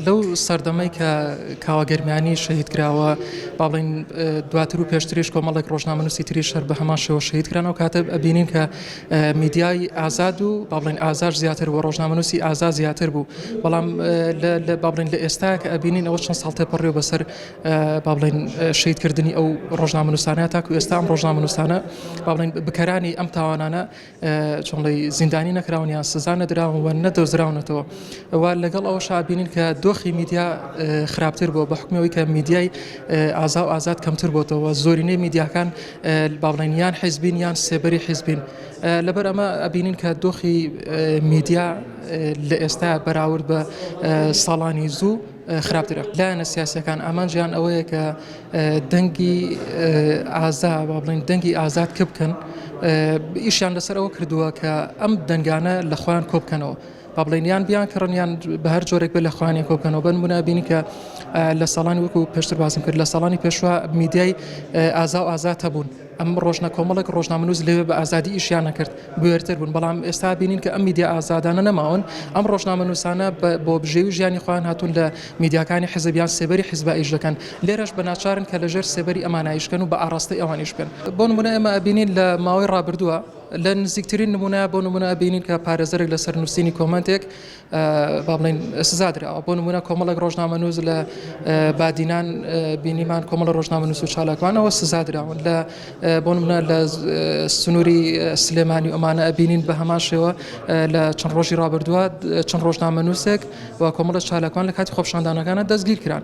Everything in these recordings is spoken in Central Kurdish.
لەو سەردەمەی کە کاوە گەرمیانی شەهید کراوە با بڵێن دواتر و پێشتریش کۆمەڵێک ڕۆژنامەنووسی تریش هەر بە هەمان شێوە شەهید کران و کاتە ئەبینین کە میدیای ئازاد و با بڵێن ئازار زیاتر و ڕۆژنامەنووسی ئازا زیاتر بوو بەڵام با بڵێن لە ئێستا کە ئەبینین ئەوە چەند ساڵ تێپەڕێ بەسەر با بڵێن شەیدکردنی ئەو ڕۆژنامەنووسانە تاکو ئێستا ئەم ڕۆژنامەنووسانە با بڵێن بکەرانی ئەم تاوانانە جوڵەی زیندانی نەکراون یان سزا نەدراون و نەدۆزراونەتەوە و لەگەڵ ئەوە شابینین کە دۆخی میدیا خراپتر بۆ بە حکمەوەی کە میدیای ئازا و ئازاد کەمتر بۆتەوە زۆرینەی میدیاکان باڵێنیان حیزبین یان سێبەری حیزبین لەبەر ئەمە ئەبینین کە دۆخی میدیا لە ئێستا بەراورد بە ساڵانی زوو خراپترە لایەنە سیاسەکان ئامانجیان ئەوەیە کە دەنگی ئازا با بڵێن دەنگی ئازاد کە بکەن ئیشیان لەسەر ئەوە کردووە کە ئەم دەنگانە لە خۆیان کۆ بکەنەوە با بڵێن یان بیان کڕنیان بە هەر جۆرێک بە لە خوانێک کۆ بکەنەوە بن منابینی کە لە ساڵانی وەکو پێشتر باسم کرد لە ساڵانی پێشوە میدیای ئازا و ئازاد هەبوون. ئەم ڕۆژنە کۆمەڵێک ڕۆژنامەنووس لەوێ بە ئازادی ئیشیان نەکرد بوێرتر بوون بەڵام ئێستا بینین کە ئەم میدیا ئازادانە نەماون ئەم ڕۆژنامەنووسانە بۆ بژێوی ژیانی خۆیان هاتوون لە میدیاکانی حزبیان سێبەری حزب ئیش دەکەن لێرەش بە ناچارن کە لەژێر سێبەری ئەمانایشکن و بە ئاراستەی ئەوانیش بن بۆ نمونە ئێمە ئەبینین لە ماوەی ڕابردووە لە نزیکترین نمونە بۆ نمونە ئەبینین کە پارێزەرێک لەسەر نووسینی کۆمنتێک با بڵێین سزا دراوە بۆ نمونە کۆمەڵێک ڕۆژنامەنووس لە بادینان بینیمان کۆمەڵە ڕۆژنامەنووس و چالاکوانەوە سزا دراون لە بۆ نمونە لە سنووری سلێمانی ئۆمانە ئەبینین بە هەمان شێوە لە چەند ڕۆژی ڕابردووە چەند ڕۆژنامەنووسێک و کۆمەڵە چالاکوان لە کاتی خۆپشاندانەکانە دەستگیر کران.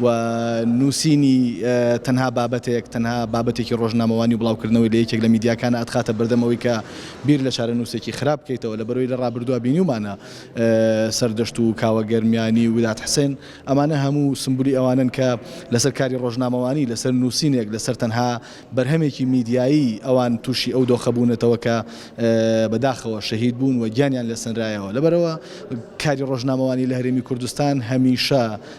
و نووسینی تەنها بابەتێک، تەنها بابەتێکی ڕۆژنامەوانی و بڵاوکردنەوەی لە یەکێک لە میدیاکانە ئەتخاتە بەردەم ئەوەی کە بیر لە چارەنووسێکی خراپ بکەیتەوە، لەبەرئەوەی لە ڕابردووا بینیومانە سەردەشت و کاوە گەرمیانی و وداد حسێن ئەمانە هەموو سمبولی ئەوانەن کە لەسەر کاری ڕۆژنامەوانی، لەسەر نووسینێک، لەسەر تەنها بەرهەمێکی میدیایی ئەوان تووشی ئەو دۆخە بوونەتەوە کە بەداخەوە شەهید بوون و گیانیان لێ سەنرایەوە، لەبەرئەوە کاری ڕۆژنامەوانی لە هەرێمی کوردستان هەمیشە